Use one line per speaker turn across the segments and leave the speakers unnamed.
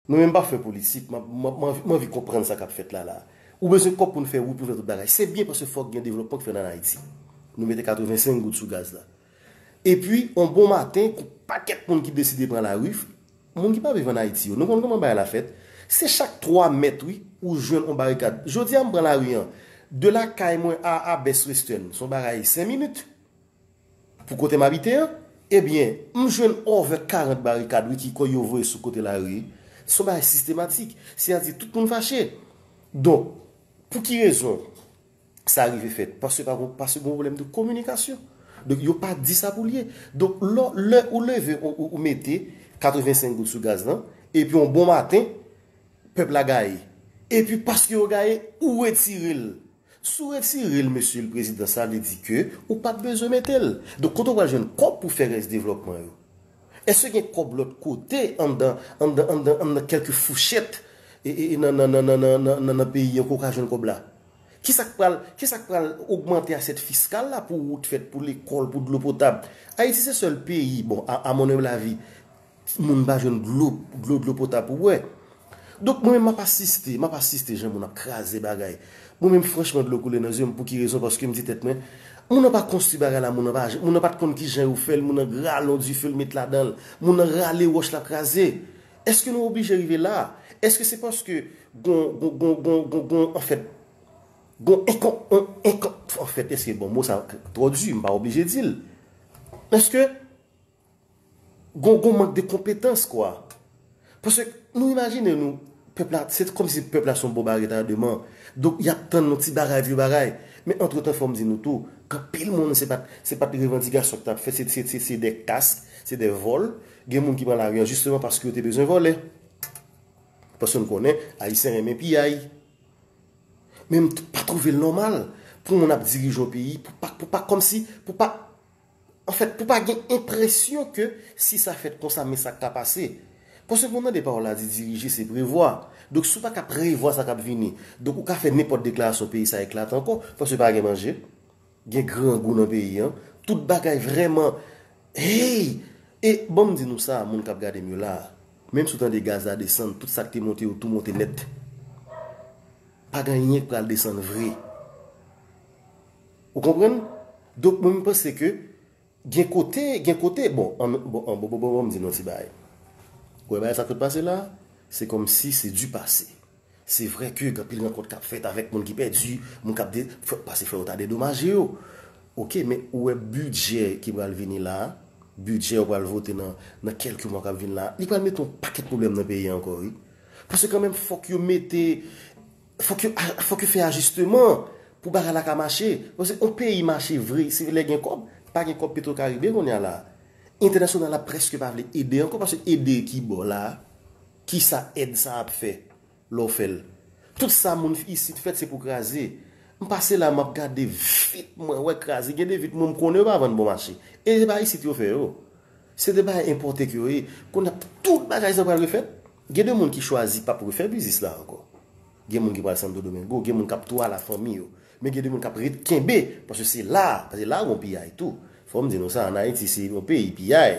Mwen menm pa fè politik, mwen anvi konprann sa kap fèt la la. Ou bezwen kòb poun fè wout, poun fè tout bagay. Se byen paske fòk gen devlòpman ki fèt an Ayiti. Nou mete 85 goud sou gaz la. Epi, on bon maten, gon pakèt moun ki deside pran lari, moun ki pa viv an Ayiti yo. Nou konn kòman bagay la fèt. Se chak 3 mèt wi, ou jwenn on barikad. Jodi a m pran lari an, de lakay mwen a Abès Western, son bagay 5 minit. Pou kote m abite an? Ebyen, m jwenn over 40 barikad wi ki kòy yo voye sou kote lari. Se yon bagay sistematik. Seyadi tout moun fache. Donk, pou ki rezon sa rive fèt? Paske pa gon, paske gon pwoblèm de kominikasyon. Donk, yo pa di sa pou l ye. Donk, lò, lè ou leve, ou mete 85 goud sou gaz lan, epi yon bon maten, pèp la gaye. Epi paske yo gaye, ou retire l. Si w retire l mesye l prezidan sa vle di ke ou pat bezwen mete l. Donk kote w pral jwenn kòb pou fè rès devlòpman yo? Èske gen kòb lòt kote anndan anndan anndan anndan kèlke fouchèt nan nan nan nan nan nan peyi an ke w ka jwenn kòb la? Kisa k pral kisa k pral ogmante asyèt fiskal la pou wout fèt, pou lekòl, pou dlo potab? Ayiti se sèl peyi, bon a a mon humble avis, Moun pa jwenn dlo, dlo, dlo potab pou bwè. Donk mwen menm m ap asiste, m ap asiste jan moun ap kraze bagay. Mwen menm franchman dlo koule nan zye m pou ki rezon paske m di tèt mwen, moun nan pa konstwi bagay la, moun nan pa, moun nan pa t konn ki jan yo fè l, moun nan gralon dife l met ladan l, moun nan rale wòch la kraze. Èske nou oblije rive la a? Èske se paske gon, gon, gon, gon, gon, gon anfèt, gon enkon, on, enkon, anfèt èske bon mo sa twò di, m pa oblije di l. Èske Gon gon mank de konpetans kwa. Paske nou imajine nou pèp la se kòm si pèp la son boba retademan. Donk y ap tann yon ti bagay vye bagay. Men antretan fò m di nou tou k anpil moun se pat se pat revandikasyon k t ap fè se se se de kask se de vòl. Gen moun ki pran lari an jisteman paske yo te bezwen vòlè. Paske n konnen ayisyen renmen piyay. Men m pa twouve l nòmal pou moun ap dirije yon peyi pou pa pou pa kòm si pou pa Anfèt, pou pa gen enpresyon ke si sa fèt konsa men sa k ta pase. Paske nou tande pawòl la di dirije se prevwa. Donk si w pa ka prevwa sa k ap vini, donk ou ka fè nenpòt deklarasyon peyi sa eklate ankò. Paske pa gen manje, gen grangou nan peyi an, tout bagay vrèman Hey! E ban m di nou sa, moun k ap gade m yo la a, menm si w tande gaz la desann, tout sa k te monte yo tou monte nèt. Pa gen anyen k pral desann vre. Ou konprann? Donk mwen m panse ke gen kote, gen kote, bon, an, bon, an, bon, bon, bon, bon, m di nou yon ti bagay. Ou wè bagay sa k sot pase la a? Se kòmsi se di pase. Se vre ke gen anpil rankont k ap fèt avèk moun ki pèdi, moun k ap de, fò, pase fò yo ta dedomaje yo. Oke, men ou wè bidjè ki pral vini la a, bidjè yo pral vote nan, nan kèlke mwa k ap vin la a, li pral mete yon pakèt pwoblèm nan peyi a ankò wi. Paske kanmenm fòk yo mete. Fòk yo fòk yo fè ajisteman pou bagay la ka mache. Paske yon peyi mache vre se lè gen kòb. Pa gen kòb petro karibe kounye a la. Entènasyonal la prèske pa vle ede ankò paske ede ki bò la? Ki sa èd sa ap fè lè w fè l? Tout sa moun isit fèt se pou kraze. M pase la m ap gade vit mwen wè kraze. Gen de vit mwen m konnen yo pa vann bon mache. E se pa isit yo fè yo. Se de bagay enpòte ke yo ye. Kounye a tout bagay sa pral refèt? Gen de moun ki chwazi pap refè biznis la ankò. Gen moun ki pral Santo Domingo, gen moun kap tou al a fanmi yo. Men gen de moun kap ret kenbe, paske se la, paske la gon piyay tou. Fò m di nou sa, an Ayiti se yon peyi piyay.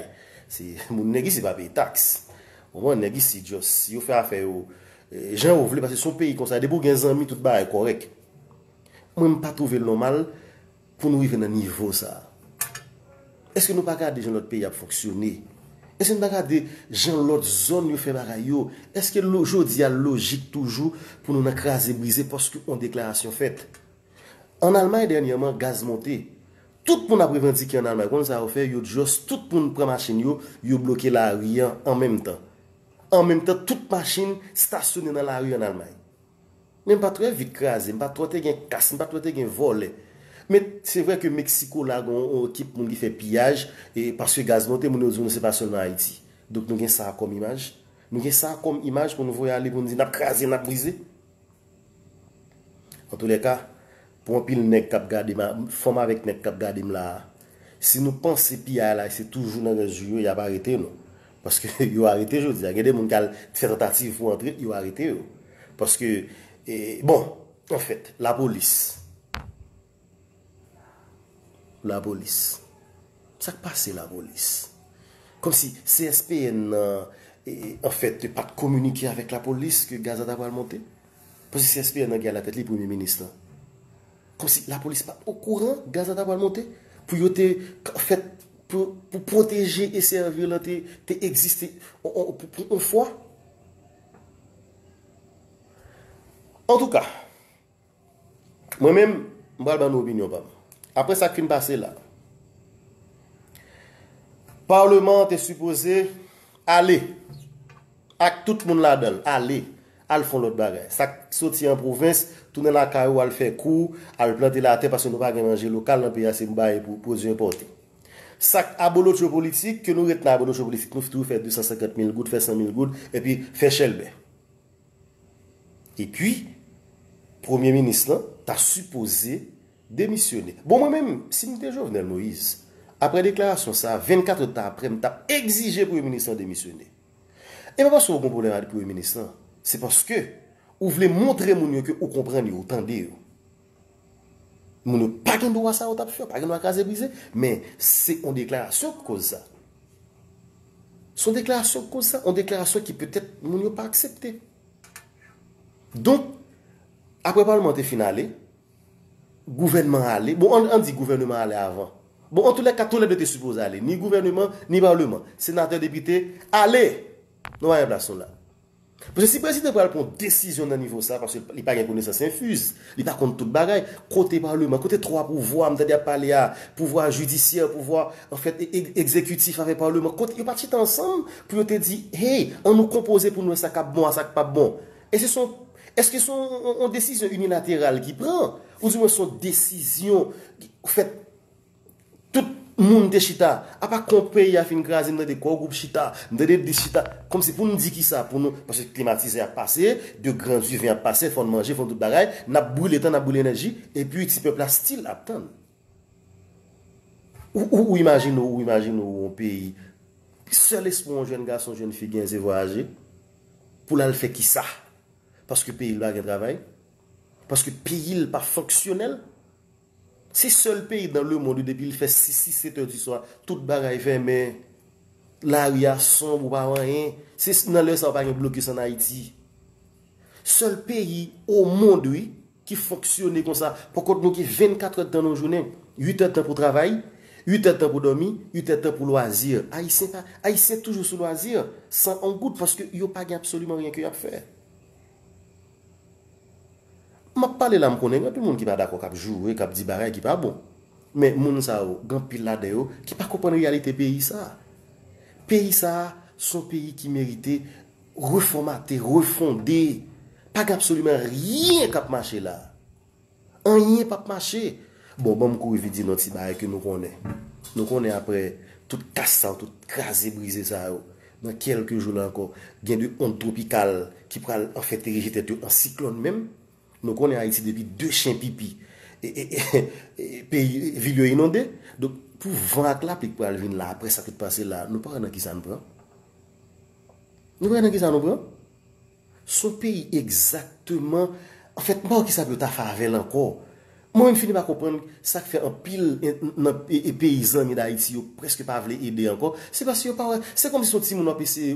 Se moun nèg isi pa peye tax. Konprann? Nèg isi just yo fè afè yo jan yo vle paske se yon peyi konsa. Depi ou gen zanmi tout bagay kòrèk. Mwen m pa twouve l nòmal. Pou nou rive nan nivo sa a? Eske nou pa gade jan lòt peyi ap fonksyone? Eske nou pa gade jan lòt zòn yo fè bagay yo? Eske jodi a l lojik toujou pou nou nan kraze brize paske yon deklarasyon fèt? An Almay dènyèman gaz monte. Tout moun ap revandike an Almay. Ou konn sa yo fè? Yo just tout moun pran machin yo, yo bloke lari an an menm tan. An menm tan tout machin stasyone nan lari an Almay. Men m pa t wè vit kraze, m pa t wè te gen kas, m pa t wè te gen vòlè. Men, se vre ke Meksiko la gen yon ekip moun ki fè piyaj, e paske gaz monte, moun yo di w non se pa sèlman Ayiti. Donk nou gen sa a kòm imaj? Nou gen sa a kòm imaj pou nou voye ale, pou nou di n ap kraze, n ap brize? Antoulèka. Pou anpil nèg kap gadem a, fanm avèk nèg kap gadem la a, si nou panse piyay la se toujou nan Rèzou yo yap arete nou. Paske yo arete jodi a. Gen de moun ki al t fè tantativ pou antre, yo arete yo. Paske bon, anfèt, lapolis. Lapolis. Sak pase lapolis? Komsi CSPN nan anfèt pat kominike avèk lapolis ke gaz la ta pral monte? Paske si SPN nan gen alatèt li premye minis lan. Kòmsi lapolis pa okouran gaz la ta pral monte? Pou yo te fèt pou pwoteje e sèvi lan te egziste pou on fwa? Antouka, mwen menm m pral ban nou opinyon pa m. Aprè sa k fin pase la, Parleman an te sipoze ale ak tout moun ladan l, ale. Al fon lòt bagay. Sa k soti an pwovens, tounen lakay ou al fè kou, al plante latè paske nou pa gen manje lokal nan peyi a se bay pou pwodui enpòte. Sa k abolotcho politik, ke nou ret nan abolotcho politik nou toujou fè 250 mil goud, fè 100 mil goud epi fè chèlbè. Epi premye minis lan ta sipoze demisyone. Bon mwen menm, si m te Jovenel Moïse, aprè deklarasyon sa, 24 èdtan aprè m t ap egzije premye minis lan demisyone. E pa paske ou gon pwoblèm ak premye minis lan, se paske ou vle montre moun yo ke ou konprann yo, ou tande yo. Moun yo pa gen dwa sa yo tap fè, yo pa gen dwa kraze brize, men se yon deklarasyon ki koz sa. Se yon deklarasyon ki koz sa, yon deklarasyon ki petèt moun yo pa aksepte. Donk, apre palman te fin ale, Gouvènman ale, bon an di gouvèneman ale avan. Bon antoulèka tou lè 2 te sipoze ale, ni gouvèneman, ni palman, senatè, depite, ale! Nou pa gen plas nou la. Paske si prezidan pral pran yon desizyon nan nivo sa, paske li pa gen konesans enfiz, li pa konn tout bagay, kote palman, kote 3 pouvwa, m tande yap pale a, pouvwa jidisyè, pouvwa anfèt ekzekitif avèk palman, kote, yo pa t chita ansanm pou yo te di, hey, an nou konpoze pou nou wè sa kap bon a sa k pap bon. E se son. Eske se yon desizyon inilateral ki pran? Ou di mwen se yon desizyon ki fèt tout moun te chita? Apa kon peyi a fin kraze m tande Core Gwoup chita, m tande dis chita. Kòm si pou n di ki sa pou nou, paske klimatizè ap pase, de gran diven ap pase, fò n manje, fò n tout bagay, n ap brile tan, n ap brile enèji, epi ti pèp la still ap tann. Ou imajine ou imajine ou yon peyi, sèl espwa yon jèn gason, jèn fi gen se vwayaje, pou l al fè ki sa? Paske peyi l pa gen travay? Paske peyi l pa fonksyonèl? Se sèl peyi dan le mond ou depi l fè 6, 6, 7 è di swa, tout bagay fèmen, lari a sonb ou pa wè anyen, se nan lè sa ou pa gen blokis an Ayiti. Sèl peyi o mond wi. ki fonksyone konsa, pou kont nou gen 24 èdtan nan yon jounen, 8 èdtan pou travay, 8 èdtan pou dòmi, 8 èdtan pou lwazi. Ayisyen pa, Ayisyen toujou sou lwazi, san on goud, paske yo pa gen absoliman ryen ke y ap fè. M ap pale la, m konnen gen anpil moun ki pa dakò, k ap joure, k ap di bagay ki pa bon. Men moun sa yo, gen anpil ladan yo ki pa konprann reyalite peyi sa a. Peyi sa a, s on peyi ki merite. Refòmate, refonde, pa gen absoliman ryen kap mache la. Anyen pap mache. Bon, banm kouri vit di nou yon ti bagay ke nou konnen. Nou konnen aprè tout kas sa yo, tout kraze brize sa yo, nan kèlke jou la ankò, gen de ond twopikal ki pral anfèt erije tèt yo an siklòn menm. Nou konnen Ayiti depi de chen pipi, peyi, vil yo inonde. Donk, pou van ak lapli ki pral vin la aprè sa tout pase la, nou pa wè nan kisa nou pran. Nou pran nan kisa nou pran? Son peyi egzakteman, anfèt m pa wè kisa pou yo ta fè avèl ankò. Mwen menm fini pa konprann sak fè anpil nan peyi zanmi Dayiti yo prèske pa vle ede ankò, se paske yo pa wè, se kòmsi se yon timoun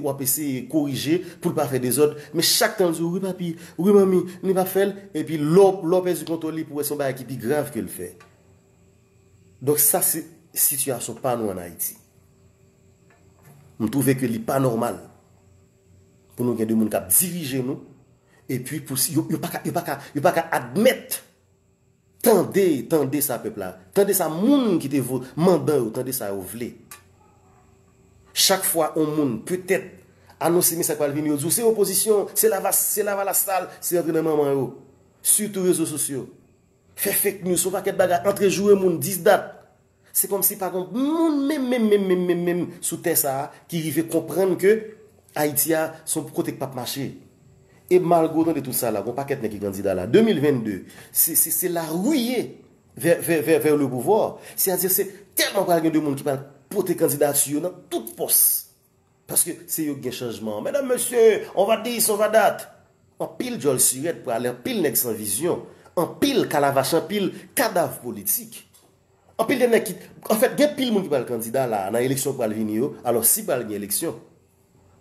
wap eseye korije poul pa fè dezòd, men chak tan l di w wi papi, wi manmi, li pa fè l, epi lè w pèdi kontwòl li pou wè se yon bagay ki pi grav ke l fè. Donk sa se sitiyasyon pa nou an Ayiti. M twouve ke li pa nòmal pou nou gen de moun k ap dirije nou epi pou si yo pa ka yo pa ka yo pa ka admèt tande tande sa pèp la tande sa moun ki te vo mandan yo tande sa yo vle. Chak fwa on moun petèt anonse men sa k pral vini yo di w se opozisyon se lavalas se lavalas sal se rantre nan manman yo sitou rezo sosyo. Fè fake news son pakèt bagay antre joure moun 10 dat. Se kòm si pa gon moun menm menm menm menm menm menm sou tè sa a ki rive konprann ke Ayiti a son kote k pap mache. E malgre w tande tout sa la, gon pakèt nèg ki kandida la. 2022, se se se la rue vè vè vè vè le pouvoir. Se a di se tèlman pral gen de moun ki pral pote kandidati yo nan tout pòs. Paske se yo ki gen chanjman an. Medam mesye, on va this, on va that. Anpil djòl sirèt prale, anpil nèg san vizyon, anpil kalavach, anpil kadav politik. Anpil de nèg ki, anfèt gen pil moun ki pral kandida la a nan eleksyon ki pral vini yo, alò si pral gen eleksyon.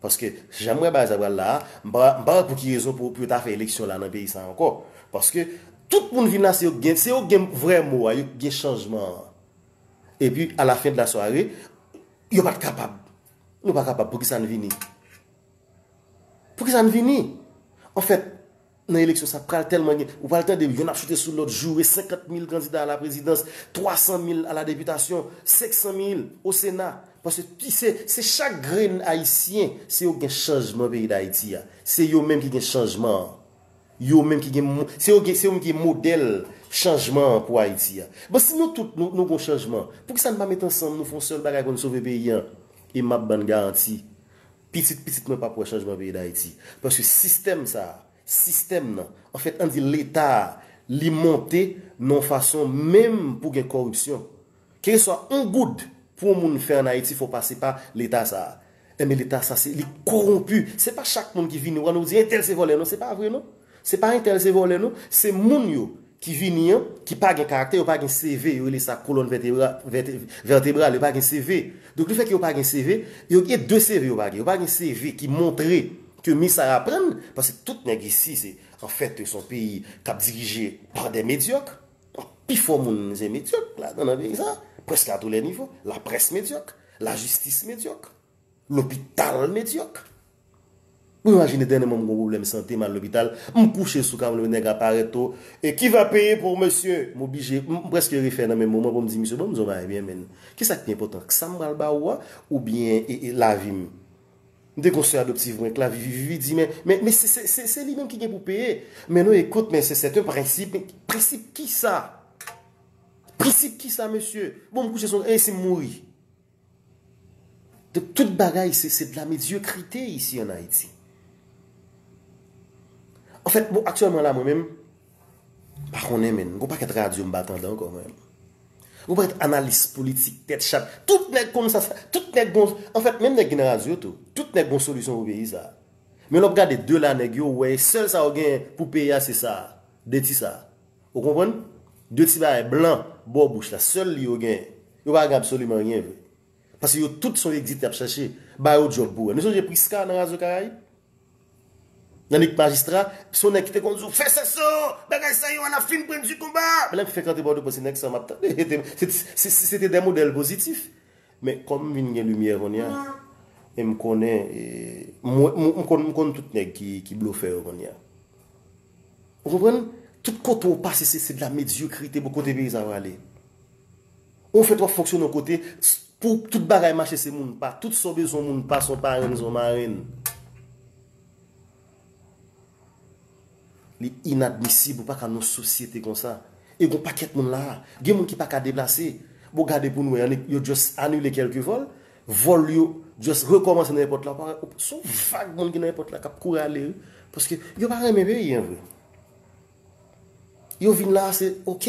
Paske jan m wè bagay sa pral la a, m pa pa wè pou ki rezon pou yo ta fè eleksyon la nan peyi sa a ankò. Paske tout moun vin la se yo ki gen, se yo ki gen vrè mo a, yo ki gen chanjman an. Epi a la fen de la sware. Yo pat kapab. Nou pa kapab. Pou ki sa n vini? Pou ki sa n vini? An fèt, nan eleksyon sa pral tèlman gen, ou pral tande youn ap chite sou lòt, joure 50 mil kandida a la prezidans, 300 mil a la depitasyon, 500 mil o sena. Paske ki se, se chak grenn ayisyen, se yo ki gen chanjman peyi dayiti a. Se yo menm ki gen chanjman an. Yo menm ki gen, se yo gen, se yo menm ki gen modèl chanjman an pou Ayiti a. Bon si nou tout nou gon chanjman, poukisa nou pa met ansanm nou fè yon sèl bagay pou nou sove peyi an? E map bann garanti, pitit pitit mwen pap wè chanjman peyi Dayiti. Paske sistèm sa a, sistèm nan, anfèt an di leta a, li monte nan yon fason menm pou gen kòripsyon. Keleswa on goud pou on moun fè an Ayiti fò pase pa leta sa a. Enben leta sa se li kowonpi. Se pa chak moun ki vini wa nou di entèl se vòlè non se pa vre non. Se pa entèl se vòlè non. Se moun yo ki vini an ki pa gen karaktè yo pa gen seve yo rele sa kolòn vètebra vètebral yo pa gen seve. Donk le fè ke yo pa gen seve yo gen de seve yo pa gen. Yo pa gen seve ki montre ke mi sa aprann paske tout nèg isi se an fèt se on peyi kap dirije pa dè medyòk. Pi fò moun se medyòk ladan nan peyi sa a, prèske a tou lè nivo. Laprès medyòk, lajistis medyòk, lopital medyòk. Ou imajine dènèman m gen yon pwoblèm sante, m al lopital, m kouche sou kab, nèg la pare tou, E ki va peye pou mesye? M oblije, m prèske refè nan menm moman pou m di misye, Ban m di yon bagay byen menn, ki sa k pi enpòtan, sa m pral ba ou a oubyen lavi m? M te gon sè adoptiv mwen k lavi vivi di men men se li menm ki gen pou peye men non ekout men se sèten prensip prensip kisa prensip kisa mesye bon m kouche son e si m mouri de tout bagay se se de la medyokrite isi an ayiti an fèt bon aktyèlman la mwen menm Pa konnen menn. Gon pakèt radyo m pa tande ankò mwen. Gon pakèt analis politik tèt chat. Tout nèg konn sa sa. Tout nèg gon. Anfèt menm nèg ki nan radyo tou. Tout nèg gon solisyon pou peyi sa a. Men lè w ap gade de la nèg yo wè sèl sa yo genyen pou peyi a se sa a. De ti sa a. Ou konprann? De ti bagay blan bò bouch la. Sèl li yo genyen. Yo pa gen absoliman anyen vre. Pase yo tout son egzit y ap chache. Ba yo djòb pou wè. Nou sonje Prisca nan radyo karayib? Nan lik majistra, son nèg ki te konn di w, fè sa san, bagay sa yo a n ap fin pran di konba. Men lè m fenk antre Bòdeaux mwen se nèg sa a m ap tande. Se te dè modèl pozitif. Men kòm m vin gen limyè kounye a e m konnen, m konn tout nèg ki blofè yo kounye a. Ou konprann? Tout kote ou pase se de la medyokrite bò kote peyi sa a prale. Ou fèt wap fonksyone yon kote Pou tout bagay mache se moun pa Tout sa w bezwen yon moun pa Son parenn son marenn Li inadmisib ou pa ka nan yon sosyete konsa E gon pakèt moun la a Gen moun ki pa ka deplase Bon gade pou nou wè an Yo just anile kèlke vòl Vòl yo just rekòmanse nan èpòt la Son vag moun ki nan èpòt la Kap kouri ale wi Paske yo pa renmen peyi an vre Yo vin la a se ok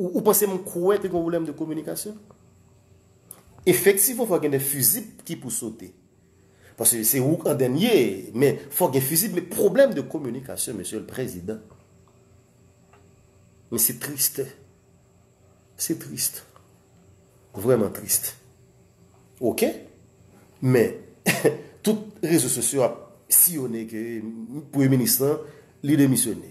Ou panse m kwè te gen yon pwoblèm de kominikasyon? Efektivman fò gen de fizib ki pou sote. Paske se ou an dènye, men fò gen fizib, men pwoblèm de kominikasyon mesye le prezidan. Men se triste. Se triste. Vreman triste. Ok? Men, tout rezo sosyo ap siyone ke premye minis lan li demisyone.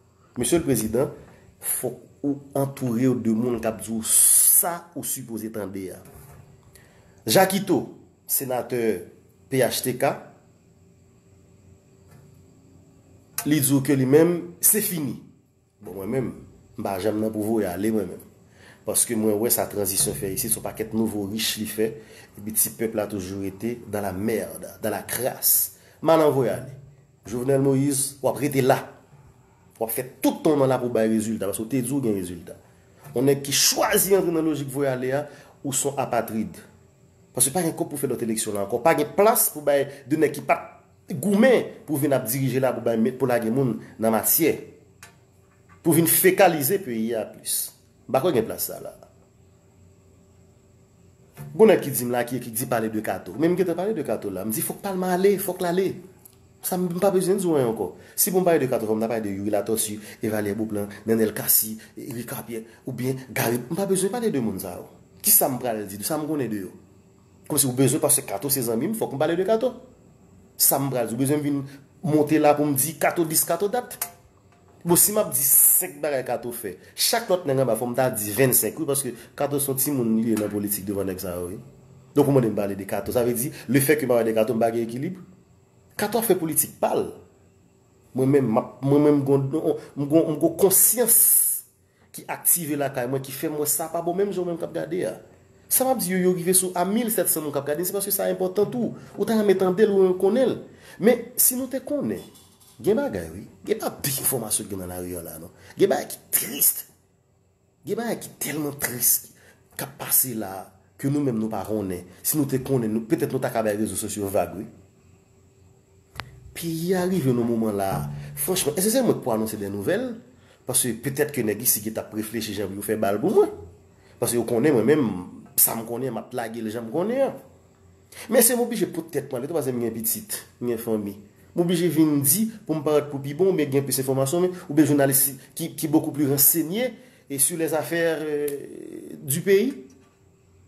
Mesye l prezidan, fok ou antourew de moun kap di w sa ou sipoze tande a. Jakito, senatè phtk, li di w ke li menm se fini. Bon mwen menm, m pa janm nan pou voye ale mwen menm. Paske mwen wè sa tranzisyon fè isit, son pakèt nouvo rich li fè, epi ti pèp la toujou rete dans la merde, dans la crasse. M pa nan voye ale. Jovenel Moïse wap rete la. Wap fè tout tan w nan la pou w bay rezilta. Paske w te di w gen rezilta. Yon nèg ki chwazi antre nan lojik voye ale a, ou son apatrid. Paske pa gen kòb pou fè lòt eleksyon la ankò. Pa gen plas pou bay de nèg ki pat goumen pou vin ap dirije la pou bay pou lage moun nan matyè. Pou vin fekalize peyi a plis. M pa kwè gen plas sa la. Gon nèg ki di m la ki ekri di pale de Kato. Men m gentan pale de Kato la. M di fòk Palma ale, fòk l ale. Sa m pa bezwen di w anyen ankò. Si pou m pale de Kato fòk m ta pale de Youri Latòsi, Evalye Boplan, Nenel Kasi, Rika Pyè, oubyen Gari. M pa bezwen pale de moun sa yo. Ki sa m pral di, sa m konnen de yo. Kòm si w bezwen paske Kato se zanmi m fòk m pale de Kato. Sa m pral di w bezwen vin monte la pou m di Kato dis Kato dat. Bon si map di 5 bagay kato fè chak lòt nèg anba fòm ta di 25 wi paske kato son timoun li ye nan politik devan nèg sa yo wi donk ou mandem pale de kato sa vle di le fè ke map pale de kato mpa gen ekilib kato ap fè politik pal mwen menm map mwen menm mgon mgon konsyans Ki aktive lakay mwen ki fèm wè sa pa bon menm jan ou menm kap gade a. Sa map di yo yo rive sou a 1700 moun kap gade se paske sa enpòtan tou. Ou ta renmen tandel ou renmen konnenl. Men si nou te konnen gen bagay wi. Gen pa pil enfòmasyon gen nan lari an la non. Gen bagay ki trist. Gen bagay ki tèlman trist kap pase la ke nou menm nou pa konnen. Si nou te konnen petèt nou ta ka bay rezo sosyo vag wi. Peyi a rive nan moman la a. Franchman, èske se mwen k pou anonse dè nouvèl? Paske petèt ke nèg isi ki t ap reflechi jan pou yo fè bal pou mwen. Paske yo konnen mwen menm, sa m konnen an, m ap lage l jan m konnen an. Men èske m oblije pot tèt mwen ale tou paske m gen pitit, m gen fanmi? M oblije vin di pou m parèt pou pi bon oubyen gen plis enfòmasyon men, oubyen jounalis ki bokou pli ransenye sur les affaires du pays?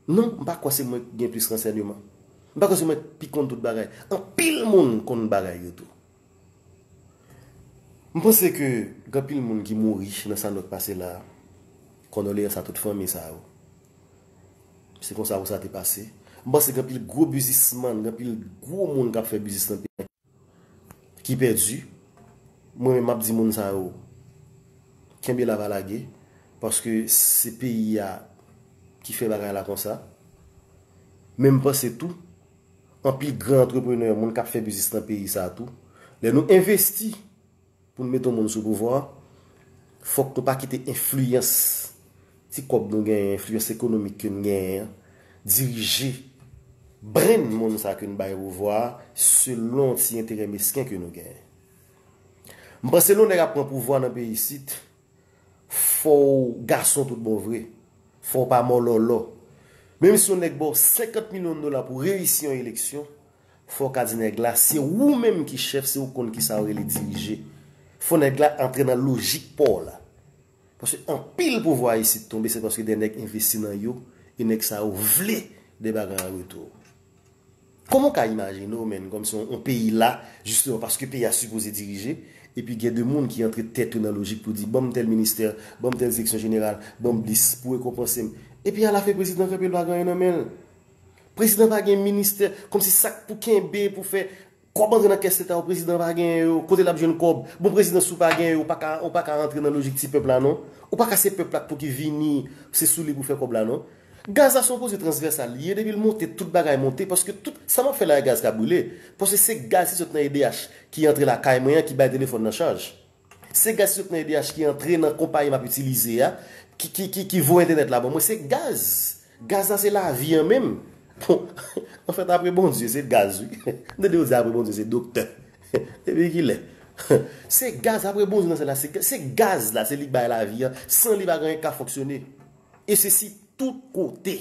Non, m pa kwè se mwen k gen plis ransènyeman. M pa kwè se mwen k pi konn tout bagay. Anpil moun konn bagay yo tou. M panse ke gen anpil moun ki mouri nan sa nou t pase la a. Kondoleyans a tout fanmi sa yo. Se konsa pou sa te pase. M panse gen anpil gwo bizismann, gen anpil gwo moun k ap fè biznis nan peyi an. ki pèdi mwen menm map di moun sa yo kenbe la pa lage paske se peyi a ki fè bagay la konsa men m panse tou anpil gran antreprenè moun kap fè biznis nan peyi sa tou lè nou envesti Pou n mete yon moun sou pouvwa, fòk nou pa kite enfliyans ti kòb nou genyen, enfliyans ekonomik ke n genyen an, dirije brenn moun sa ke n bay pouvwa a selon ti enterè mesken ke nou genyen. M panse lè yon nèg ap pran pouvwa nan peyi isit, fò w gason tout bon vre, fò w pa mòlòlò. Menm si yon nèg ba w 50 milyon dola pou w reyisi yon eleksyon, Fo ka di nèg la se ou menm ki chèf se ou k konn kisa yo rele dirije. Fo nèg la antre nan lojik pa w la. Paske anpil pouvwa isit tonbe se paske de nèg envesti nan yo e nèg sa yo vle de bagay an retou. Kòman w ka imajine w menn kòmsi yon peyi la jisteman paske peyi a sipoze dirije epi gen de moun ki antre tèt yo nan lojik pou di ban m tèl ministè, ban m tèl direksyon jeneral, ban m dis pou rekonpanse m. Epi alafen prezidan kanpe l pa gen anyen nan men l. Prezidan pa gen ministè, kòmsi sak pou kenbe pou fè kòb antre nan kès leta yo prezidan pa gen yo, kote lap jwenn kòb, bon prezidan si w pa gen yo ou pa ka rantre nan lojik ti pèp la non, ou pa ka se pèp la k pou ki vini se sou li pou fè kòb la non. Gaz la se yon koze transvèsal li ye depi l monte tout bagay monte paske tout sa map fè la a gaz ka brile paske se gaz ki sot nan edh ki antre lakay mwen an ki bay telefòn nan chaj. Se gaz ki sot nan edh ki antre nan konpayi map itilize a ki voye entènèt la ban mwen se gaz gaz la se lavi an menm bon anfèt apre Bondye se gaz wi m tande yo di apre Bondye se doktè depi kilè se gaz apre Bondye nan sèl la se gaz la se li k bay lavi an san li pa gen anyen k ka fonksyone e se si tout kote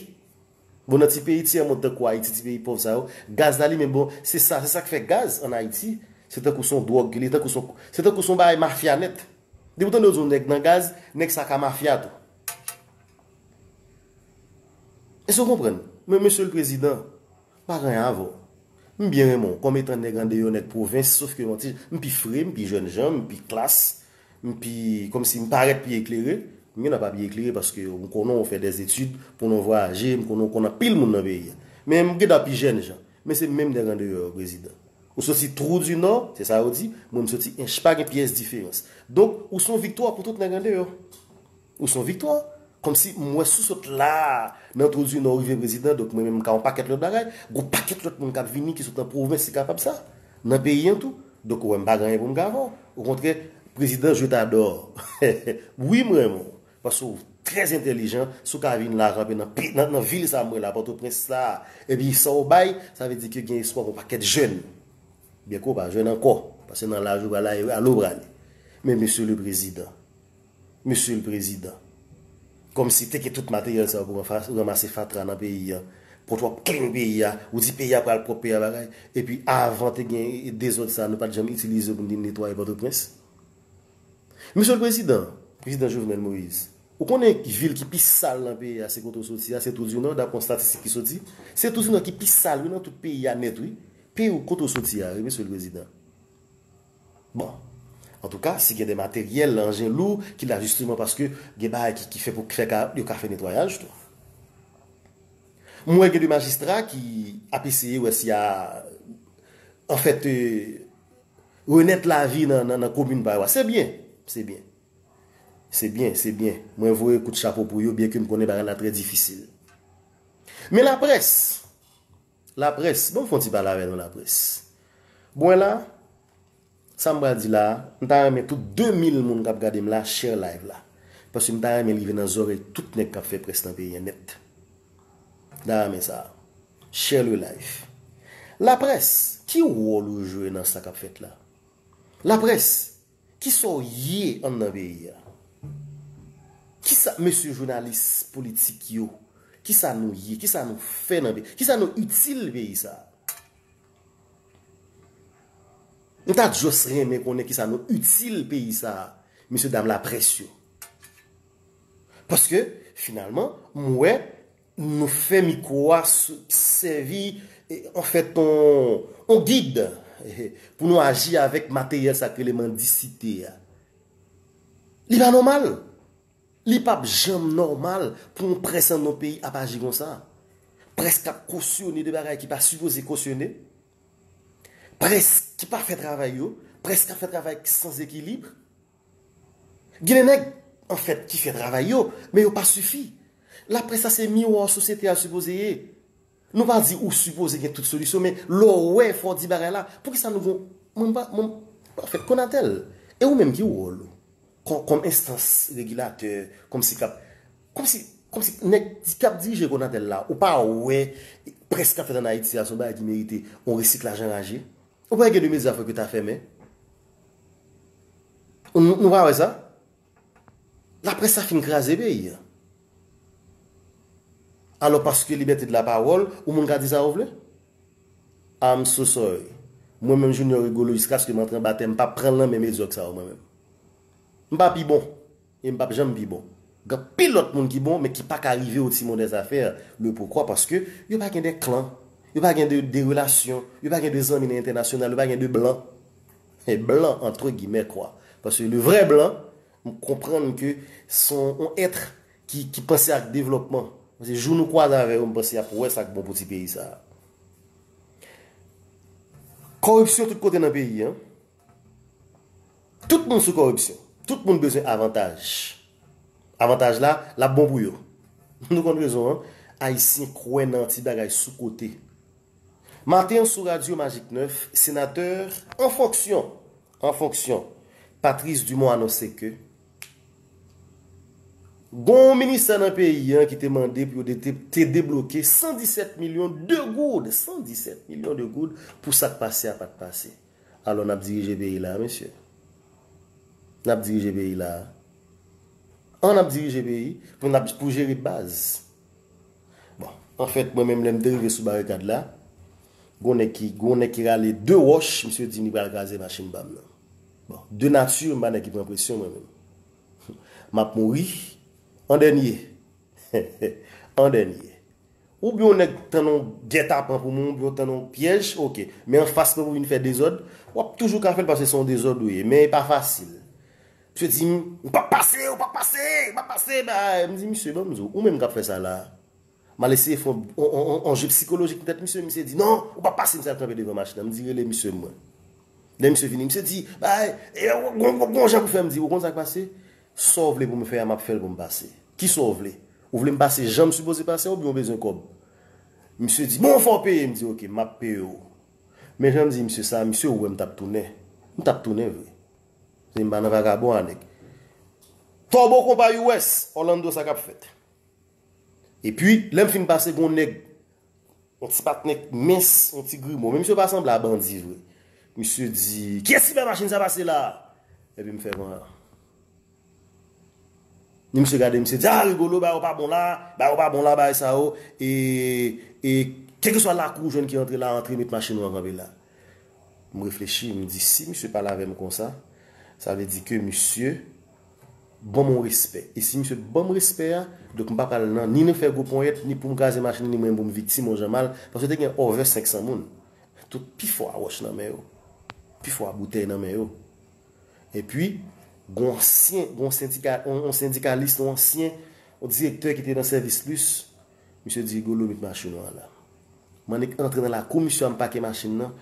Bon nan ti peyi tyè mond tankou Ayiti ti peyi pòv sa yo, gaz la li menm bon se sa se sak fè gaz an Ayiti se tankou son dwòg ke li tankou son se tankou son bagay mafya nèt. Depi w tande yo di yon nèg nan gaz, nèg sa ka mafya tou. Èske w konprann? Men mesye lprezidan, m pa gen anyen avè w. M byen renmen w kòm etan nèg andeyò nèg pwovens sof ke yon ti m pi fre, m pi jèn jan, m pi klas. M pi, kòm si m parèt pi eklere. M gen dwa pa pi eklere paske m konnen w fè dè etid, m konnen w vwayaje, m konnen w konn anpil moun nan peyi a. Men m gen dwa pi jèn jan. Men se menm nèg andeyò yo, prezidan. Ou soti twou di nò, se sa yo di, mwen m soti ench. Pa gen pyès diferans. Donk, ou se yon viktwa pou tout nèg andeyò. Ou son viktwa. Kòmsi m wè sou sot la a nan twou di nò ou rive prezidan donk mwen menm m ka yon pakèt lòt bagay. Gon pakèt lòt moun k ap vini ki sot nan pwovens ki kapab sa. Nan peyi an tou. Donk ou wè m pa gen anyen pou m ka fè w. Okontrè, prezidan je t'adore. Wi m renmen w. Paske w trè entèlijan. Si w ka vin la kanpe nan vil sa a m wè la a Pòtoprens sa a epi sa w bay sa vle di ke gen espwa pou yon pakèt jèn. Byenke w pa jèn ankò. Paske nan laj ou prale a ou prale. Men mesye le prezidan. Mesye l prezidan. Kom si te gen tout materyel sa yo pou ranmase fatra nan peyi an. Pou w trop clean peyi a. Ou di peyi a pral prop peyi a bagay. E pi avan te gen dezod sa nou pat janm itilize yo pou n vin netwaye potoprens. Mesye l prezidan, prezidan Jovenel Moise. Ou konnen vil ki pi sal nan peyi a se kote w soti a, se Trou du Nord dapre yon statistik ki soti. Se Trou du Nord ki pi sal wi nan tout peyi a net wi. Peyi w kote w soti a wi mesye l prezidan. Bon. Antouka, si gen de materyèl, anjen lou, ki la jisteman paske gen bagay ki fè pou fè ka, yo ka fè netwayaj tou. M wè gen de majistra ki ap eseye wè si y a anfèt renèt lavi nan komin pa yo a. Se byen. Se byen. Se byen. Se byen. Mwen voye kout chapo pou yo byenke m konnen bagay la trè difisil. Men laprès, Laprès, banm fon ti pale avè nou laprès. Buen la, sa m pral di la, m ta renmen tout 2000 moun kap gade m la share live la. Paske m ta renmen l rive nan zorèy tout nèg kap fè près nan peyi an nèt. M ta renmen sa. Share le live. Laprès, ki wòl ou jwe nan sa kap fèt la? Laprès! Kisa w ye anndan peyi a? Kisa mesye jounalis politik yo, kisa nou ye? Kisa nou fè nan peyi? Kisa nou itil peyi sa a? M ta just renmen konnen kisa nou itil peyi sa a, mesye dam laprès yo. Paske, finalman, m wè. Nou fè mikwo a sèvi anfèt on gid pou nou aji avèk materyèl sa k rele mandisite a. Li pa nòmal. Li pa p janm nòmal pou on près an non peyi ap aji konsa. Près k ap kosyone de bagay ki pa sipoze kosyone. Près ki pa fè travay yo. Près k ap fè travay san zekilibre. Gen de nèg, an fèt, ki fè travay yo, men yo pa sifi. Laprès la se miwa sosyete a sipoze ye. Nou pa di ou sipoze gen tout solisyon, men lè w wè fò w di bagay la, poukisa nou gen yon, mwen pa fèt Konatel. E ou menm ki wòl ou? Kòm enstans regilatè, kòm si kap, kòm si, kòm si nèg kap dirije Konatel la, ou pa wè près kap fèt an Ayiti a se yon bagay ki merite yon resiklaj anraje? Ou pa wè gen de mezya fòk yo ta fèmen? Nou pa wè sa? Laprès sa fin kraze peyi an. Alò paske libète de la pawòl, ou moun ka di sa ou vle? I'm so sorry. Mwen menm Junior Rigolo jiskaske m antre anba tè m pa pran l nan men medyòk sa yo mwen menm. M pa pi bon. E m pap janm pi bon. Gen anpil lòt moun ki bon men ki pa ka rive au timon des affaires. Le pourquoi? Paske yo pa gen de klan. Yo pa gen de de relasyon. Yo pa gen de zanmi nan entènasyonal. Yo pa gen de blan. E blan antre gimè kwa. Paske le vrè blan, m konprann ke s on on ètre ki ki panse ak devlòpman. Paske jou nou kwaze avè yo m panse y ap wè sa k bon pou ti peyi sa a. Kòripsyon tout kote nan peyi an. Tout moun sou kòripsyon. Tout moun bezwen avantaj. Avantaj la, l ap bon pou yo. Nou konn rezon an. Ayisyen kwè nan ti bagay sou kote. Maten an sou radyo Magik 9, senatè an fonksyon, an fonksyon, Patrice Dumont anonse ke gon yon ministè nan peyi an ki te mande pou yo te debloke 117 milyon de goud, 117 milyon de goud pou sa k pase a pa t pase. Alò nap dirije peyi la mesye. Nap dirije peyi la. An nap dirije peyi pou nap pou jere baz. Bon, an fèt mwen menm lèm te rive sou barikad la, gon nèg ki gon nèg ki rale 2 wòch, misye di li pral kraze machin pam nan. Bon, de nati m pa nèg ki pran presyon mwen menm. Map mouri an dènye. An dènye. Ou byen yon nèg tann yon gètapan pou moun, ou byen w tann yon pyèj, ok. Men anfas mwen pou vin fè dezòd, w ap toujou ka fè l paske se yon dezòd ou ye. Men e pa fasil. Misye di m, ou p ap pase, ou p ap pase, ou p ap pase. M di misye, ban m di w, ou menm k ap fè sa la a. M al eseye fè yon je psikolojik nan tèt misye. Misye di, non, ou p ap pase. Misye al kanpe devan machin nan. M di, rele misye mwen. Lè misye vini, misye di, bagay, gen yon jan pou fè. M di, ou konn sa k pase? Sa w vle pou m fè a m ap fè l pou m pase. Kisa w vle? Ou vle m pase jan m sipoze pase a oubyen ou bezwen kòb? Misye di, bon, fò w peye! M di, oke, m ap peye w. Men jan m di misye sa a, misye wè m t ap tounen. M t ap tounen vre. Paske m pa nan vagabon a, nèg. Tòbo konpa US, Orlando sa k ap fèt. Epi, lè m fin pase, gen yon nèg Yon ti patnè k mens, yon ti grimo. Menm si yo pa sanble a bandi vre. Misye di, Kiyès ki bay machin sa pase la a? Epi m fè van. Ni misye gade, misye di, A Rigolo, bagay ou pa bon la a. Bagay ou pa bon la a, bagay sa yo. E, e, kèlkeswa lakou ou jwenn ki antre la a, antre met machin ou an kanpe la. M reflechi, m di, si misye pale avè m konsa, sa vle di ke misye. Banm yon respè. E si misye banm respè a, donk m pa pral nan ni nan fè gwo ponyèt, ni poum kraze machin li, ni mwen poum viktim yon jan mal, paske te gen over 500 moun. Tout pi fò a wòch nan men yo. Pi fò a boutèy nan men yo. E pi, gon ansyen, gon sendika, yon sendikalis, yon ansyen, yon direktè ki te nan sèvis plis, misye di, Rigolo met machin ou a la. M'en annik antre nan lakou misye a, m pake machin nan.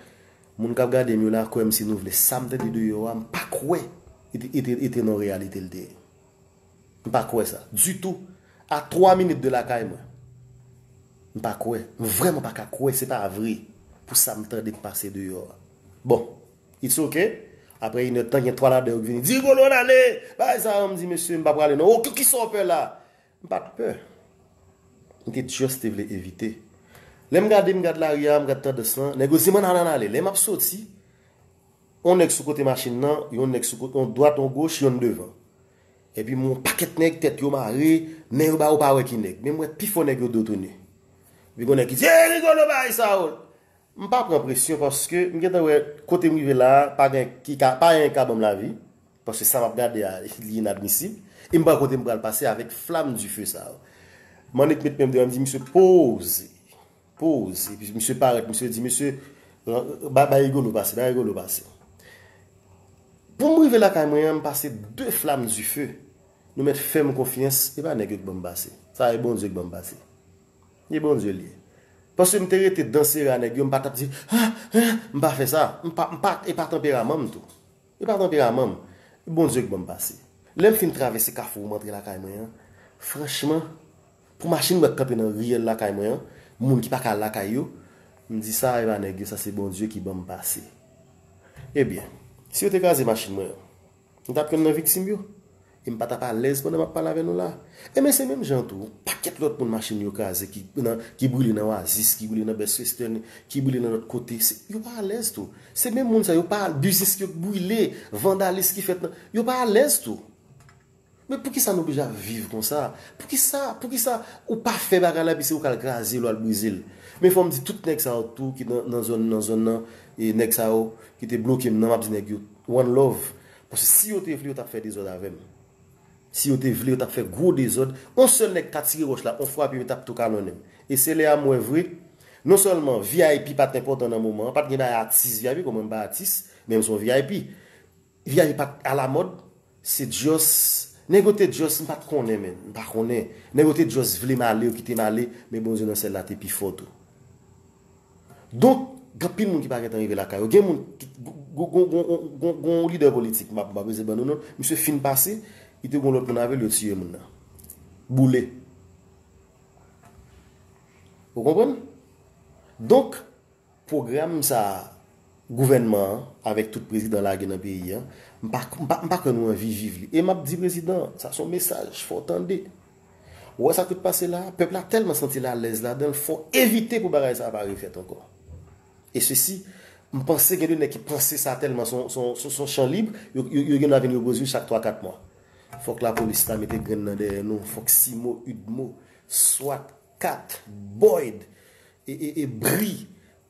Moun kap gadem yo la kwèm si nou vle sam tande de yo a m pa kwè e te nan reyalite l te ye m pa kwè sa ditou a 3 minit de lakay mwen m pa kwè m vrèman pa ka kwè se pa vre pou sam tande k pase de yo a bon it's ok aprè inè de tan gen 3 ladan yo k vini di Rigolo nale bay sa yo m di mesye m pa prale non ok kisa w pè la M pat pè. M te just te vle evite. Lè m gade, m gad lari a, m gad tandans lan, nèg yo di m ann ale, ann ale. Lè m ap soti, yon nèg sou kote machin nan, yon nèg sou kote, yon dwat, yon goch, yonn devan. Epi m wè yon pakèt nèg, tèt yo mare, men yo ba ou pa wè ki nèg. Men m wè pifò nèg yo do tounen. Epi gon nèg ki di, Ey Rigolo bay sa yo! M pa pran presyon paske m gentan wè kote m rive la a, pa gen, ki ka, pa anyen ki ka ban m lavi. Paske sa map gade a li inadmisib e m pa wè kote m pral pase avèk flamme du feu sa yo. Manick met men m devan m di misye poze, poze epi misye parèt misye di mesye bay Rigolo pase, bay Rigolo pase. Pou m rive lakay mwen an m pase 2 flamme du feu nou mèt fè m konfyans e pa nèg yo k banm pase sa e Bondye k banm pase. E Bondye l ye. Paske m te rete dan sere a nèg yo m pa tap di ah ah m pa fè sa m pa e pa tanperaman m tou. E pa tanperaman m. E Bondye k ban m pase. Lè m fin travèse kafou m antre lakay mwen an, franchman, pou machin mwen k kanpe nan riyèl lakay mwen an, moun ki pa ka al lakay yo, m di sa e pa nèg yo, sa se Bondye ki ban m pase. Ebyen, si yo te kraze machin mwen an, m t ap youn nan viktim yo? E m pa t ap alèz pandan m ap pale avè nou la a. Enben, se menm jan an tou, yon pakèt lòt moun machin yo kraze ki nan, ki brile nan Oasis, ki brile nan Best Western, ki brile nan lòt kote, se, yo pa alèz tou. Se menm moun sa yo, yo pa, biznis yo k brile, vandalis ki fèt nan, yo pa alèz tou. Men poukisa nou oblije ap viv konsa? Poukisa, poukisa ou pa fè bagay la epi se ou k al kraze l, ou al brize l? Men fò m di tout nèg sa yo tou ki nan, nan zòn, nan zòn nan, e nèg sa yo ki te bloke m nan, m ap di nèg yo, one love. Paske si yo te vle yo tap fè dezòd avè m. Si yo te vle yo tap fè gwo dezòd. On sèl nèg ta tire wòch la, on fwape yo tap tou kanonnen m. E se lè a m wè vre, non sèlman vip pat enpòtan nan moman an, pat gen bagay atis vip kòm mwen m pa atis, men m son vip. Vip pat alamòd, se just, nèg yo te just, m pat konnen menn, m pa konnen. Nèg yo te just vle m ale, yo kite m ale, men Bondye nan syèl la te pi fò tou. Donk, gen anpil moun ki pa gentan rive lakay yo. Gen moun, gen yon lidè politik, m pa prese ban nou non, misye fin pase, li te gen yon lòt moun avè l, yo tiye moun nan. Boule. Ou konprann? Donk, pwogram sa a, gouvènman an, avèk tout prezidan lage nan peyi an, m pa kwè nou anvi viv li. E m ap di prezidan an, sa son mesaj, fò w tande. Ou wè sa ki t pase la a? Pèp la tèlman santi l alèz ladan l, fò w evite pou bagay sa a pa refèt ankò. E sesi, m panse gen de nèg ki panse sa tèlman s on s on chan lib, yo gendwa vin repoze yo chak twa kat mwa. Fòk lapolis la mete grenn nan dèyè nou, fòk Simo, Udmo, Swat, cat, Boyd e e e Bri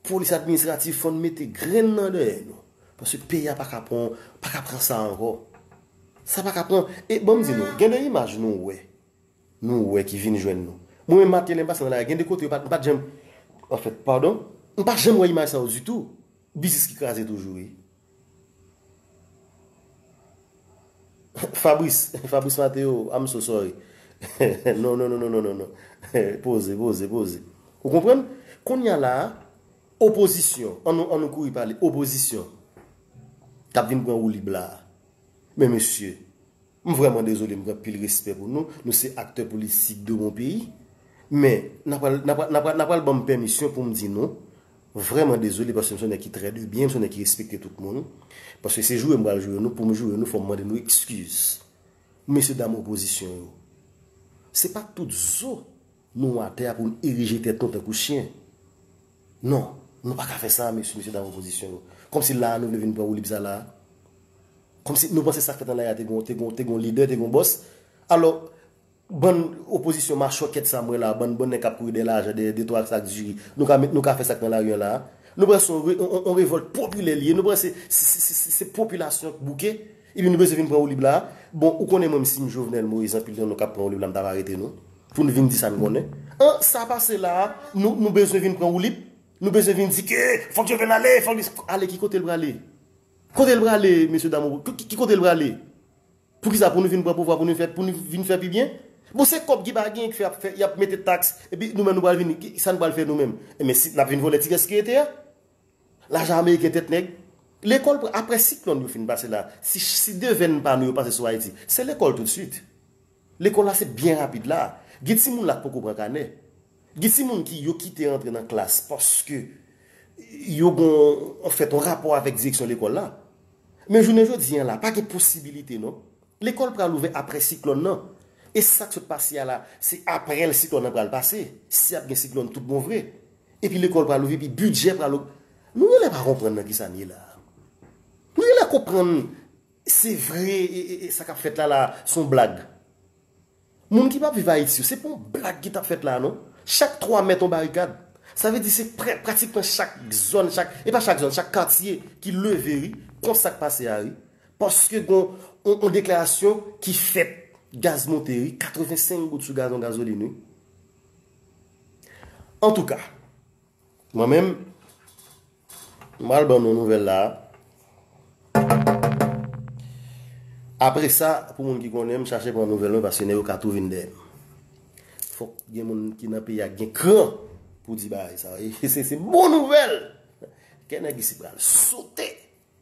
Polis administratif fòn mete grenn nan dèyè nou paske peyi a paka pran paka pran sa ankò sa paka pran e banm di nou gen de imaj nou wè nou wè ki vin jwenn nou mwen menm Mately m pase nan lari gen de kote yo pat m pat janm anfèt padon m pa janm wè imaj sa yo ditou biznis ki kraze toujou wi. Fabrice Fabrice Mateo I'm so sorry Non non non non non Poze poze poze Ou konprann? Kounya la a Opozisyon An nou an nou kouri pale Opozisyon Kap vin pran woulib la a Men mesye M vrèman dezole m gen anpil respè pou nou, nou se aktè politik de mon peyi, men na pral na pral na pral na pral ban m pèmisyon pou m di nou vrèman dezole paske m se yon nèg ki trè de byen, m se yon nèg ki respekte tout moun, paske se joure m pral joure nou, pou m joure nou fò m mande nou ekskiz. Mesye dam opozisyon yo, se pa tout zo nou watè a pou n erije tèt nou tankou chyen. Non, nou pa ka fè sa a mesye, mesye dam opozisyon yo. Kòmsi la a nou vle vin pran woulib sa la a? Kòmsi nou panse sa k fèt anlè a te gon, te gon, te gon lidè, te gon bòs? Alò, bann opozisyon machòkèt sa a m wè la a, bann, bann nèg k ap kouri dèyè lajan, dèyè de twa sak diri, nou ka met, nou ka fè sa k nan lari an la a? Nou panse se yon re, yon, yon revòlt popilè li ye? Nou panse se, se, se, se popilasyon k bouke? Epi nou bezwen vin pran woulib la a? Bon, ou konnen mwen m si m Jovenel Moïse anpil nan nou k ap pran woulib la m t ap arete nou pou n vin di sa n konnen. An, sa pase la a, nou nou bezwen vin pran woulib? Nou bezwen vin di ke fòk Jovenel ale, fòk li. Ale ki kote l prale? Kote l prale mesye dam ou ki kote l prale? Pou ki sa? Pou nou vin pran pouvwa pou nou pou nou vin fè pi byen? Bon se kòb ki pa genyen k fè y ap fè y ap mete taks epi nou menm nou pral vin sa n pral fè nou menm? Enben si n ap vin vòlè ti kès ki rete a? Lajan ameriken tèt nèg. Lekòl pran aprè siklòn yo fin pase la si si devenn pa nou yo pase sou ayiti se lekòl tout swit lekòl la se byen rapid la gen timoun la k poko pran kanè gen timoun ki yo kite antre nan klas paske yo gon an fèt yon rapò avèk direksyon lekòl la men jounen jodi an la pa gen posibilite non lekòl pral ouvè aprè siklòn nan e sak sot pase a la se aprè l siklòn nan pral pase si ap gen siklòn tout bon vre. Epi lekòl pral ouvri, epi bidjè pral ogmante. Nou genlè pa konprann nan ki sa n ye la a. Nou genlè konprann se vre sa k ap fèt la la a s on blag. Moun ki p ap viv Ayiti yo, se pa yon blag ki t ap fèt la a non. Chak 3 mèt yon barikad. Sa vle di se pratikman chak zòn, chak, e pa chak zòn, chak katye ki leve ri kont sa k pase a ri. Paske gen yon deklarasyon ki fèt gaz monte ri, 85 goud sou gazon gazolin wi. Antouka, mwen menm, m pral ban nou nouvèl la a. Apre sa, pou moun ki konnen m, chache pran nouvèl mwen paske nèg yo ka tou vin dèyè m. Fòk gen moun ki nan peyi a ki gen kran pou di bagay sa a. Se bon nouvèl! Kè nèg isit pral sote!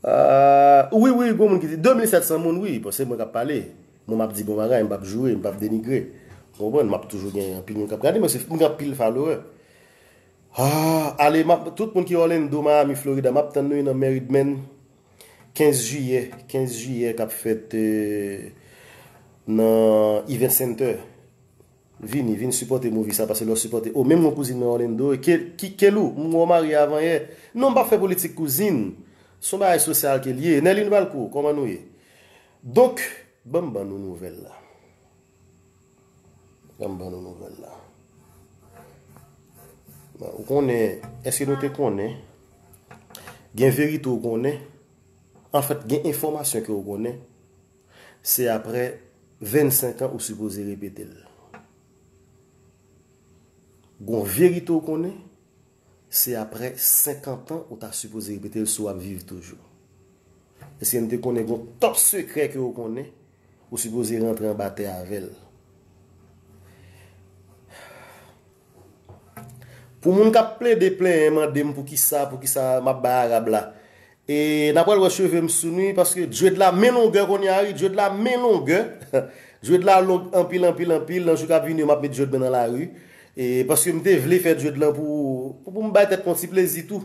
Aah wi wi gon moun ki di 2700 moun wi bon se mwen kap pale mwen map di bon bagay mwen pap joure mwen pap denigre ou konprann map toujou gen anpil moun kap gade mwen se mwen gen anpil followè aah ale map tout moun ki Orlando Miami Florida map tann nou nan Meridmen 15 jiyè 15 jiyè kap fèt nan Event Center Vini, vin sipòte movie sa pase lè w sipòte oh menm mwen kouzin mwen Orlando e ke ki Kelou m wè w marye avan yè non m pap fè politik kouzin s on bagay sosyal ke l ye Nerline Valcourt kòman nou ye donk banm ban nou nouvèl la banm ban nou nouvèl la ou konnen eske nou te konnen gen verite ou konnen anfèt gen enfòmasyon ke ou konnen Se aprè 25 an ou sipoze repetel. Gon verite ou konnen, se aprè 50 an ou ta sipoze repetel si wap viv toujou. Eske nou te konnen gon top sekrè ke ou konnen, ou sipoze rantre anba tè avèl. Pou moun kap plede plenyen mandem poukisa poukisa map bay arab la e na pral wè chevem sou nu paske dread la men longè konnya wi dread la men longè dread la long anpil anpil anpil nan jou kap vini yo map met dread mwen nan lari e paske mte vle fè dread lan pou poum bay tèt mwen yon ti plezi tou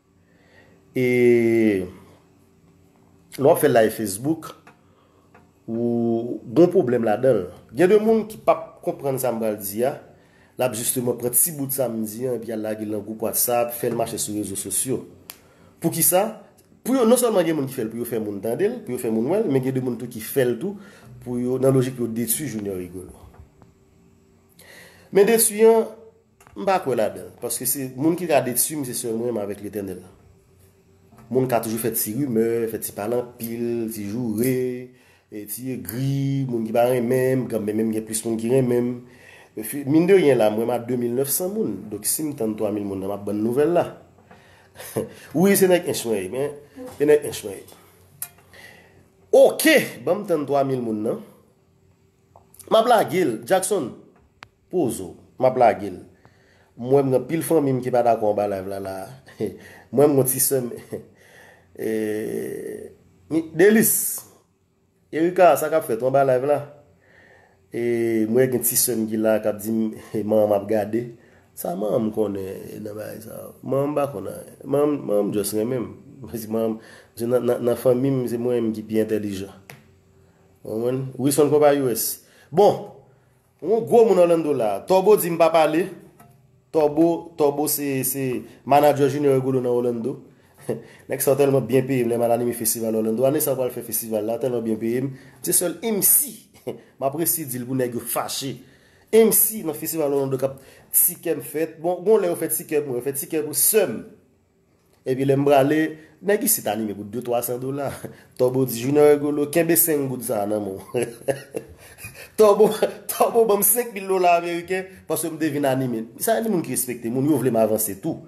E lè wap fè live Facebook ou gon pwoblèm ladanl. Gen de moun ki pap konprann sa m pral di a, lap jisteman pran ti bout sa m di an epi al lage l nan gwoup WhatsApp, fè l mache sou rezo sosyo. Poukisa? Pou yo, non sèlman gen moun ki fè l pou yo fè moun tande l, pou yo fè moun wè l, men gen de moun tou ki fè l tou pou yo, nan lojik pou yo detwi Junior Rigolo. Men detwi an, M pa kwè ladan l paske se moun ki ka detui m se sèl mwen menm avèk Letènèl. Moun ka toujou fè ti rimè, fè ti pale anpil, ti joure, ti egri, moun ki pa renmen m, kan menm gen plis moun ki renmen m. Min de ryen la mwen m a 2900 moun, donk si m tann 3000 moun nan m ap ban n nouvèl la. Wi se nèg Ench mwen ye men, se nèg Ench mwen ye. Oke, ban m tann 3000 moun nan. M ap lage l, Jackson, Pozo. Map lage l. M wè m gen pil fanmi m ki pa dakò anba live la la a. M wè m gen yon ti sè m Eee Delice! Erika sa kap fèt ou anba live la? Eee m wè gen ti sè m ki la a kap di m manman m ap gade. Sa manman m konnen nan bagay sa yo? Manman m pa konn anyen. Manman m just renmen m. Paske manman m se nan fanmi m se mwen menm ki pi entèlijan. Ou konprann? Wilson Konpa US. Bon! Ou on gwo moun Orlando la. Torbo di m pa pale. Torbo Torbo se se manager Junior Rigolo nan Orlando. Nèg sa yo tèlman byen peye m lè m al anime festival Orlando. Ane sa yo pral fè festival la, tèlman byen peye m. M se sèl MC m ap resi di l pou nèg yo fache. MC nan festival Orlando k ap ti kè m fèt. Bon, gon lè yo fè ti kè pou mwen. Yo fè ti kè pou sè m. Epi lè m prale, nèg isit anime pou de twa san dola. Tòbo di Junior Rigolo, kenbe senk goud sa a nan men w. Tòbo, Tòbo ban m senk mil dola ameriken paske m te vin anime. Sa gen de moun ki respekte moun, yo vle m avanse tou.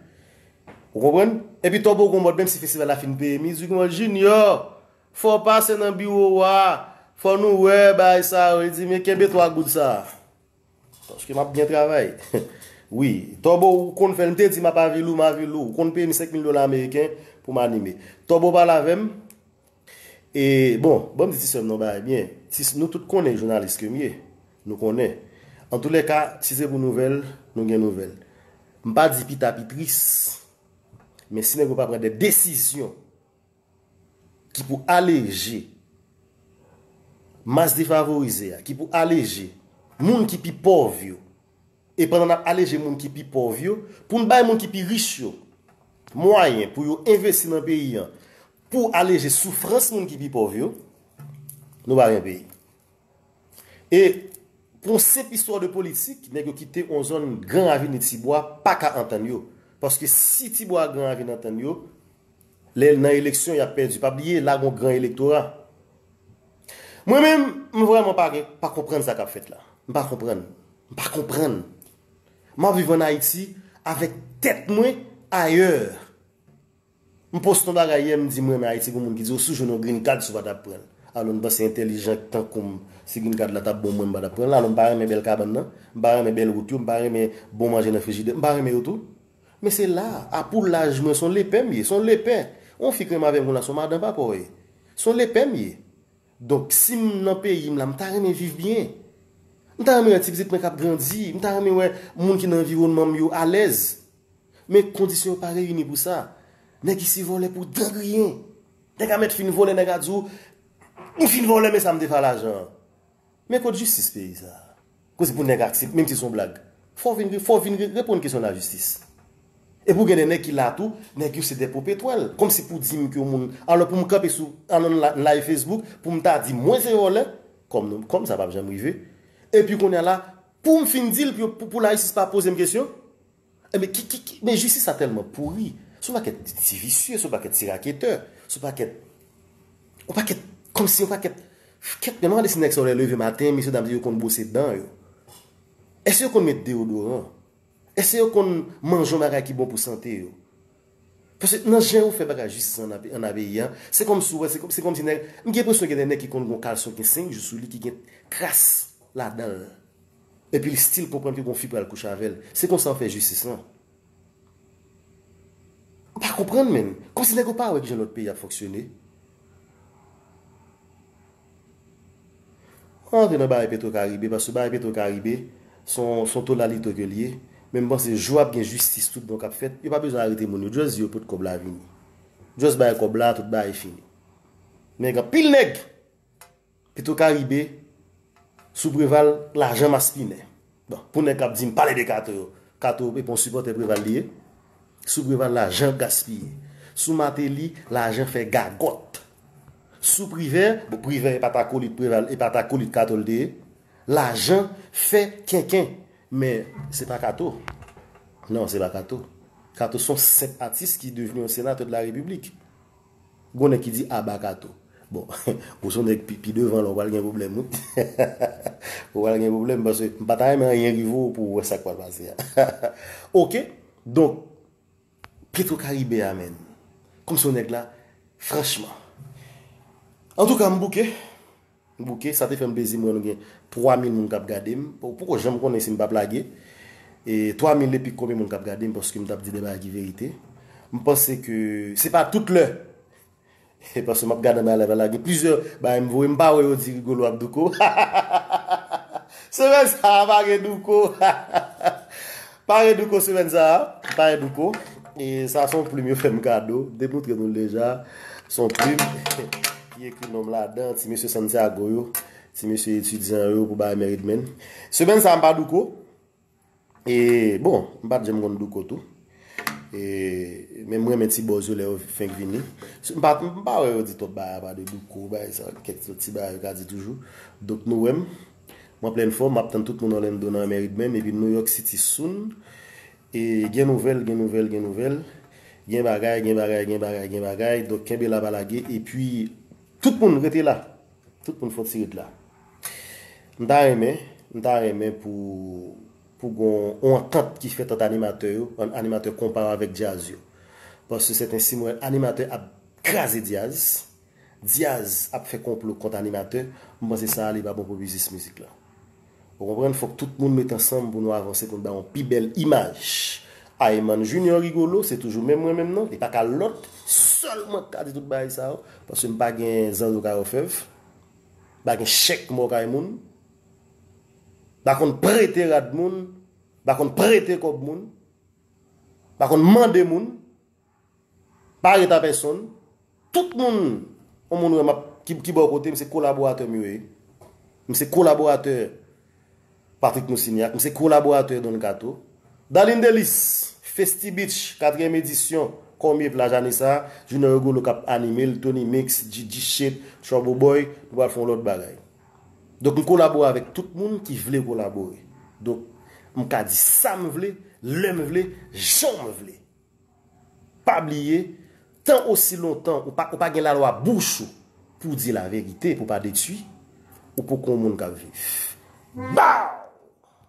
Ou konprann? Epi Tòbo gen yon mòd, menmsi festival la fin peye mizik, li mande, Junior, fè w pase nan biwo a, fò nou wè bagay sa yo. Li di, men kenbe twa goud sa a. Paske map byen travay. Wi. Tòbo ou konn fèl. M te di map avil ou, m avil ou. Ou konn peye m 5 mil dola ameriken pou m anime. Tòbo pale avè m. E bon, ban m di ti sè m nan bagay byen. Nou tout konnen jounalis ke m ye. Nou konnen. An tou le ka, si se pou nouvèl, nou gen nouvèl. M pa di pita pi tris. Men si nèg yo pa pran de desizyon ki pou aleje mas defavorize a, ki pou aleje moun ki pi pòv yo, e pandan n ap aleje moun ki pi pòv yo, pou n bay moun ki pi rich yo mwayen pou yo envesti nan peyi an pou aleje soufrans moun ki pi pòv yo, nou pa gen peyi. E pou yon senp istwa de politik, nèg yo kite yon zòn gran ravin e tibwa pa ka antann yo. Paske si tibwa ak gran ravin antann yo, lè nan eleksyon yap pèdi. Pa bliye la gen yon gran elektora. Mwen menm, m vrèman pa gen, pa konprann sa kap fèt la. M pa konprann. M pa konprann. Map viv an Ayiti avèk tèt mwen ayè. M post yon bagay yè m di m renmen Ayiti gen yon moun ki di ou si w jwenn yon green card si w pa ta pran l alon m panse entèlijan k tankou m si green card la tap bon mwen m pa tap pran l alon m pa renmen bèl kabann nan m pa renmen bèl wout yo m pa renmen bon manje nan frijidè m pa renmen yo tou men se la a pou laj mwen se yon lepè m ye se yon lepè yon fi k renmen avè m konnya se yon madan papa w ye se yon lepè m ye donk si m nan peyi m la m ta renmen viv byen m ta renmen wè ti pitit mwen kap grandi m ta renmen wè moun ki nan anviwònman m yo alèz. Men kondisyon yo pa reyini pou sa. Nèg isi vòlè pou dan griyen. Nèg a mèt fin vòlè nèg a di w, m fin vòlè men sa m te fè a lajan an. Men kot jistis peyi sa a? Pou se pou nèg aksepte menm si se yon blag. Fò w vin ri, fò w vin ri reponn kesyon lajistis. Epi w gen de nèg ki la tou, nèg yo se de popetwèl. Kòmsi pou di m ke yon moun, alò pou m kanpe sou alò n live Facebook pou m ta di mwen se vòlè, kòm sa pa p janm rive. Epi kounye a la. Poum fin dil pou la jistis pa pozem kesyon? Enben ki ki ki men jistis la tèlman pouri son pakèt ti visye son pakèt ti raketè son pakèt yon pakèt kòmsi yon pakèt kèt men mwen gade si nèg sa yo lè yo leve maten mesye dam yo konn bwose dan yo èske yo konn met deyodoran èske yo konn manje yon bagay ki bon pou sante yo Paske nan jan yo fè bagay jis san an nan peyi an, se kòm si ou wè, se kòm si nèg, m gen enpresyon gen de nèg ki konn gon kalson ki gen 5 jou sou li ki gen kras ladan l. Epi li stil konprann ke gon fi pral kouche avè l. Se konsa yo fè jistis lan. M pa konprann menm. Kòm si nèg yo pa wè ki jan lòt peyi ap fonksyone. Mwen pa rantre nan bagay petro karibe paske bagay petro karibe son tolalito ke liye men mpanse jou ap gen jistis tout bon kap fèt yo pa bezwen arete moun yo just di yo pot kob la vini just bay kob la tout bagay fini nèg anpil nèg petro karibe sou preval lajan maspinen. Bon pou nèg kap dim pale de kato yo kato epa yon sipòtè preval li ye sou preval lajan ap gaspiye sou mateli lajan fè gagòt sou privè bon privè epa ta kolit preval epa ta kolit kato li te ye lajan fè kenken men sepa kato non sepa kato kato son senp atis ki devni yon senatè de la repiblik. Gon nèg ki di aba kato. Bon ou son nèg pi devan la ou pral gen pwoblèm wi. Ou pral gen pwoblèm paske m pa ta renmen anyen rive w pou w wè sa k pral pase a. Ok donk petro karibe a menn kòmsi w nèg la franchman. Antouka m bouke. M bouke, sa te fè m plezi m wè nou gen 3 mil moun k ap gade m. Ou poko janm konnen si m p ap lage. 3 mil epi konbyen moun k ap gade m paske m t ap di de bagay ki verite. M panse ke se pa tout lè paske m ap gade anba live la gen plizyè bagay m voye m pa wè yo di Rigolo ap douko. Hahahaha! Se vre sa a pa gen douko hahaha! Pare douko semèn sa a Pare douko E sa son plim yo fè m kado Te moutre nou l deja Son plim Ki ekri non m ladan Ti mesye Santiago yo Ti mesye etidyan yo Pou bay Merit Men Semèn sa a m pa douko E bon M pa t janm konn douko tou E Men m renmen ti bòz yo lè yo fenk vini M pa wè yo di twòp bagay apa de douko Bagay sa Kèk ti bagay yo ka di toujou Donk nou wè m. Mwen plen fòm map tann tout moun Orlando nan Amerik menm epi New York City soon e gen nouvèl gen nouvèl gen nouvèl gen bagay gen bagay gen bagay gen bagay donk kenbe la pa lage epi tout moun rete la tout moun fòti ret la m ta renmen m ta renmen pou pou gon on antant ki fèt ant animatè yo an animatè konpa avèk djaz yo paske sèten si m wè animatè ap kraze djaz. Diaz ap fè konplo kont animatè, m panse sa a li pa bon pou biznis mizik lan. Ou konprann, fòk tout moun met ansanm pou nou avanse pou n bay yon pi bèl imaj. Ayman Junior Rigolo se toujou menm mwen menm nan, li pa ka lòt sèl mwen k ka di tout bagay sa yo, paske m pa gen zan yo kay òfèv, m pa gen chèk mò kay moun, m pa konn prete rad moun, m pa konn prete kòb moun, m pa konn mande moun. Pa ret a pèsonn. Tout moun, yon moun wè m ap, ki bò kote m, se kolaboratè m yo ye. M se kolaboratè Patrick Moussignac, m se kolaboratè Don Kato. Darline Delice, Festy Beach, katriyèm edisyon, Kòmye plaj ane sa a, Junior Rigolo k ap anime l, Tony Mix, JJ Shape, Trouble Boy, nou pral fè yon lòt bagay. Donk m kolabore avèk tout moun ki vle kolabore. Donk m ka di sa m vle, lè m vle, jan m vle. Pa bliye, tan osi lontan ou pa ou pa gen lalwa bouch ou pou w di laverite pou w pa detui, ou poko yon moun k ap viv. Baww!